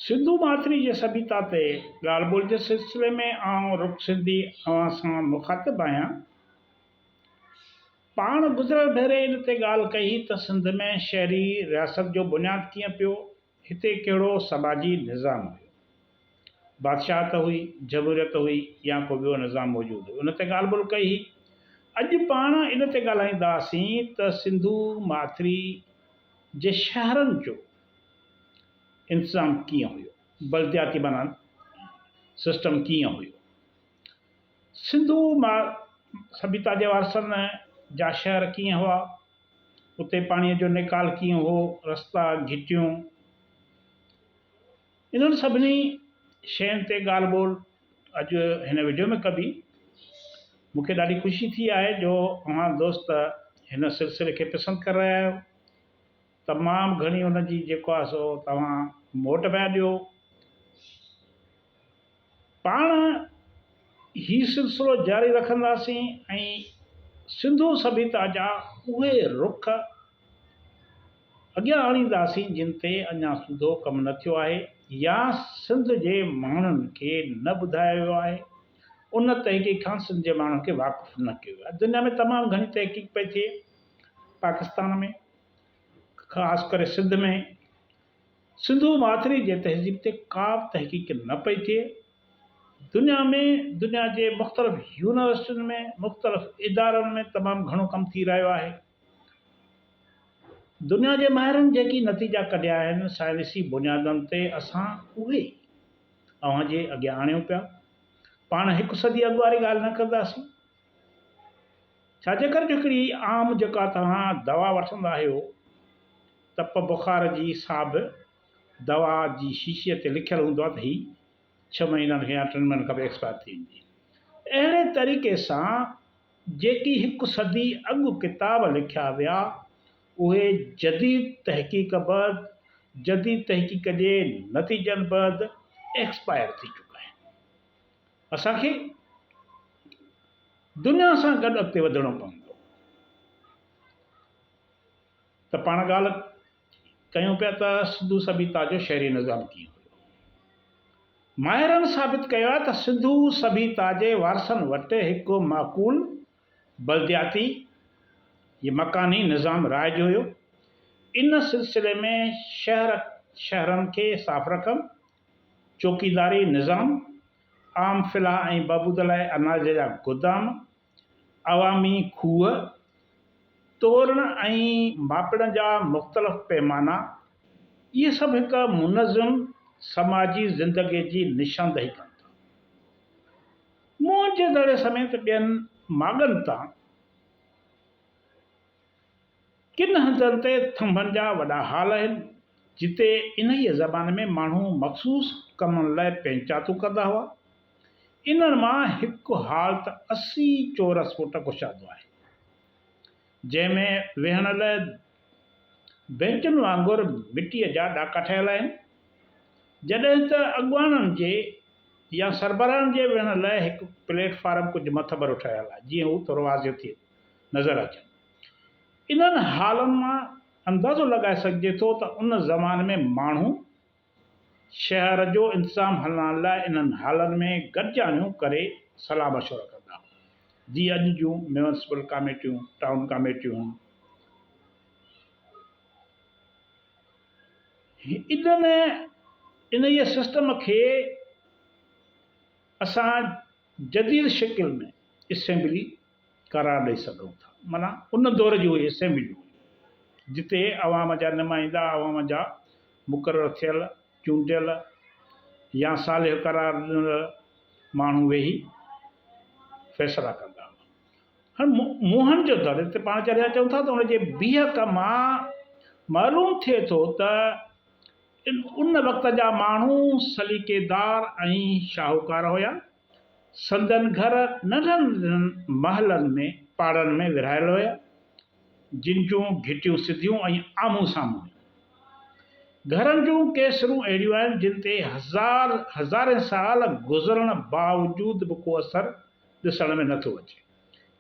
سنڌو ماٿري جي سڀيتا تي ڳالهه ٻولهه جي سلسلي ۾ آئون رک سنڌي اوهان سان مخاطب آهيان. پاڻ گذريل ڀيري ان تي ڳالهه ڪئي هئي ته سنڌ ۾ شهري رياست جو بنياد ڪيئن پيو هتي ڪهڙو سماجي نظام هيو؟ بادشاهت هئي، جمهوريت هئي يا ڪو ٻيو نظام موجود هيو؟ ان تي ڳالهه ٻولهه ڪئي هئي. اڄ پاڻ ان تي ڳالهائينداسين ته سنڌو ماٿري جي شهرن جو انتظام ڪيئن هيو؟ بلدياتي بنائن سسٽم ڪيئن هيو؟ سنڌو سڀيتا جي وارثن جا شهر ڪيئن هئا، اتي پاڻيء جو نيڪال ڪيئن هو، رستا، گهٽيون، انهن سڀني شين تي ڳالهه ٻولهه اڄ هن وڊيو ۾ ڪبي. مون کي ڏاڍي خوشي ٿي آهي جو اوهان دوست هن سلسلي کي پسند ڪري رهيا آهيو. تمام گهڻي ان جي جيڪو آهي سو توهان موٽ پيا ڏيو. پاڻ هي سلسلو جاري رکنداسين ۽ سنڌو سڀيتا جا اهي رخ اڳيان آڻينداسين جن تي اڃا سوڌو ڪم نه ٿيو آهي يا سنڌ جي ماڻهن کي نه ٻڌايو ويو آهي ان تحقيق کان سنڌ جي ماڻهن کي واقف نه ڪيو ويو آهي دنيا ۾ تمام گهڻي تحقيق پئي ٿئي پاڪستان ۾ خاص ڪري سنڌ ۾، سنڌو ماٿري جي تهذيب تي ڪا به تحقيق نه پئي ٿئي. دنيا ۾ دنيا جي مختلف يونيورسٽين ۾، مختلف ادارن ۾ تمام گهڻو ڪم ٿي رهيو آهي. دنيا جي ماهرن جيڪي نتيجا ڪڍيا آهن، سائنسي بنيادن تي اسان اهي ئي اوهان جي اڳيان آڻيون پيا. پاڻ هڪ صدي اڳ واري ڳالهه نه ڪنداسين. ڇا جي ڪر هڪڙي عام جيڪا توهان دوا وٺندا آهيو تپ بخار جي سا به دوا جي شيشي تي لکيل هوندو آهي ته هي ڇهه مهينن کان يا ٽن مهينن کان به ايڪسپائر ٿي ويندي اهڙي طريقي سان جيڪي هڪ صدي اڳ ڪتاب لکيا ويا اهي جديد تحقيق بعد جديد تحقيق جي نتيجن بعد ايڪسپائر ٿي چڪا آهن. اسان کي دنيا سان گڏ اڳتي وڌڻو پوندو ته پاڻ ڳالهه ڪيون پيا ته سنڌو سڀيتا جو شهري نظام ڪيئن هيو. ماهرن ثابت ڪيو آهي ته سنڌو سڀيتا جي وارثن وٽ هڪ معقول بلدياتي يا مڪاني نظام رائج هيو. ان سلسلي ۾ شهر شهرن کي صاف رکڻ ۽ چوڪيداري نظام، عام فلاح ۽ بهبود لاء اناج جا گودام، عوامي کوهه، تورڻ ۽ ماپڻ جا مختلف پيمانا، اهي سڀ هڪ منظم سماجي زندگي جي نشاندهي ڪن ٿا. موئن جو دڙي سميت ٻين ماڳن تان، ڪن هنڌن تي ٿنڀن جا وڏا هال آهن، جتي انهيء زماني ۾ ماڻهو مخصوص ڪمن لاء پينچاتون ڪندا هئا. انهن مان هڪ هال ته اسي چورس فوٽ ڪشادو آهي، جنهن ۾ ويهڻ لاء بئنچن وانگر مٽيء جا ڏاڪا ٺهيل آهن، جڏهن ته اڳواڻن جي يا سربراهن جي ويهڻ لاء هڪ پليٽ فارم ڪجهه مٿڀرو ٺهيل آهي، جيئن هو تروازيون ٿي نظر اچن. انهن حالن مان اندازو لڳائي سگهجي ٿو ته ان زماني ۾ ماڻهو شهر جو انتظام هلائڻ لاء انهن حالن ۾ گڏجاڻيون ڪري صلاح مشورا ڪندا هئا جيئن اڄ جون ميونسپل ڪاميٽيون، ٽائون ڪاميٽيون. انهن انهيء سسٽم کي اسان جديد شڪل ۾ اسيمبلي، قرار ڏئي سگهون ٿا معنيٰ ان دور جي اهي اسيمبليون هيون جتي عوام جا نمائندا عوام جا مقرر ٿيل چونڊيل يا صالح قرار ڏنل ماڻهو ويهي فيصلا ڪندا هئا هاڻ موهن جو دڙي تي پاڻ چريا چون ٿا ته ان جي بيهڪ مان معلوم ٿئي ٿو ته ان وقت جا ماڻهو سليقيدار ۽ شاهوڪار هيا سندن گهر ننڍن ننڍن محلن ۾ پاڙن ۾ ورهايل هيا، جن جون گهٽيون سڌيون ۽ آمهون سامهون هيون. گهرن جون ڪي سرون اهڙيون آهن، جن تي هزار هزارين سال گذرڻ باوجود به ڪو اثر ڏسڻ ۾ نه ٿو اچي.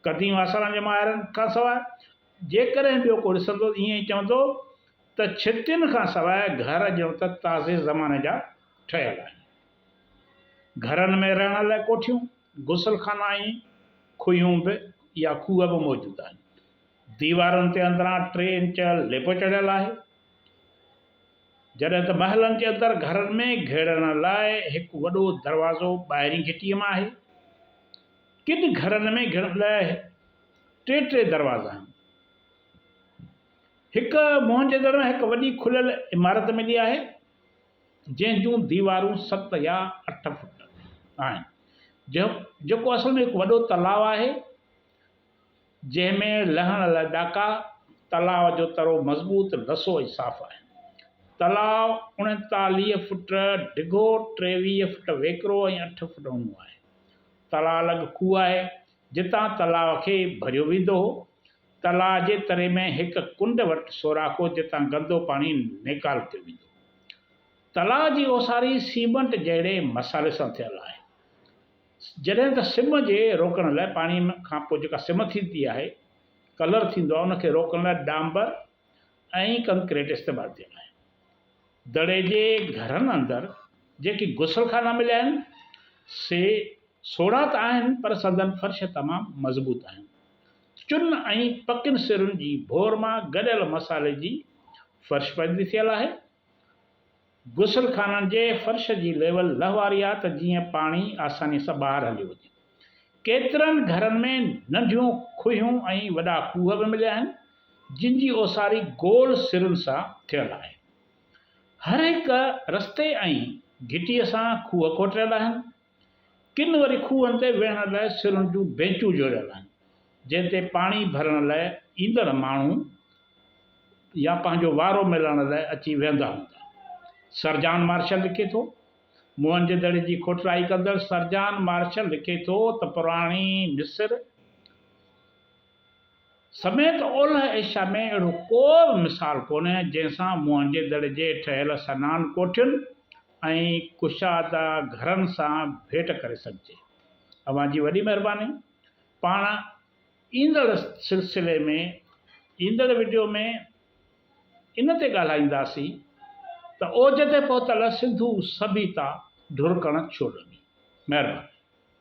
قديم آثارن جي ماهرن کان سواء جيڪڏهن ٻيو ڪو ڏسندو ته ائين ئي چوندو ته ڇٽين کان سواء گهر ڄڻ ته تازي زماني جا ٺهيل آهن. گهرن ۾ رهڻ لاء ڪوٺيون، غسل خانا ۽ کوهيون به يا کوهه به موجود آهن. ديوارن تي اندران ٽي انچ ليپو چڙهيل آهي. جڏهن ته محلن جي اندر گهرن ۾ گهڙڻ لاء هڪ وڏو دروازو ٻاهرين گهٽيء مان آهي. ڪن گهرن ۾ گهڙڻ لاء ٽي ٽي دروازا آهن. هڪ موهن جدڙ ۾ هڪ وڏي کليل عمارت ملي آهي. جنهن جون ديوارون ست يا اٺ فوٽ آهن جيڪو اصل ۾ هڪ وڏو تلاء آهي جنهن ۾ لهڻ لاء ڏاڪا. تلاء جو ترو مضبوط، لسو ۽ صاف آهي. تلاء اڻيتاليهه فوٽ ڊگهو، ٽيويهه فوٽ ويڪرو ۽ اٺ فوٽ اونهو آهي. تلاء لڳ کوهه آهي جتان تلاء کي ڀريو ويندو هو. تلاء جي تري ۾ هڪ ڪنڊ وٽ سوراخ هو جتان گندو پاڻي نيڪالتو ويندو هو. تلاء جي اوساري سيمنٽ جهڙي مصالحي سان ٿيل آهي. جڏهن ته سم جي روڪڻ لاء پاڻي کان پوء جيڪا سم ٿيندي آهي، ڪلر ٿيندو آهي، ان کي روڪڻ لاء ڏانڀر ۽ ڪنڪريٽ استعمال ٿيل آهي. دڙي جي گهرن اندر جيڪي غسل خانا مليا آهن، سي سوڙها ته آهن پر سندن فرش تمام مضبوط آهن. چن ۽ پڪين سرن جي ڀور مان گڏيل مصالحي جي فرش پئجي ٿيل آهي. غسل خانن جي فرش جي ليول لھ واري آهي ته جيئن پاڻي آساني سان ٻاهر هليو وڃي. ڪيترن گھرن ۾ ننڍيون کوهيون ۽ وڏا کوهه به مليا آهن جن جي اوساري گول سرن سان ٿيل آهي. هر هڪ رستي ۽ گھٽيء سان کوهه کوٽيل آهن. ڪن وري کوهن تي ويهڻ لاء سرن جون بينچون جوڙيل آهن، جنهن تي پاڻي ڀرڻ لاء ايندڙ ماڻهو يا پنهنجو وارو ملڻ لاء اچي ويهندا هوندا. سرجان مارشل لکي ٿو، موهنجو دڙي جي کوٽرائي ڪندڙ سرجان مارشل لکي ٿو ته پراڻي مصر، سميت اولهه ايشيا ۾ اهڙو ڪو به مثال ڪونهي جنهن سان موهنجي دڙي جي ٺهيل سنان ڪوٺين ۽ ڪشاده گهرن سان ڀيٽ ڪري سگهجي. اوهان جي وڏي مهرباني. پاڻ ايندڙ سلسلي ۾ ايندڙ وڊيو ۾ ان تي ڳالهائينداسين ته اوج تي پهتل سنڌو سڀيتا ڍرڪڻ ڇو لڳي. مهرباني.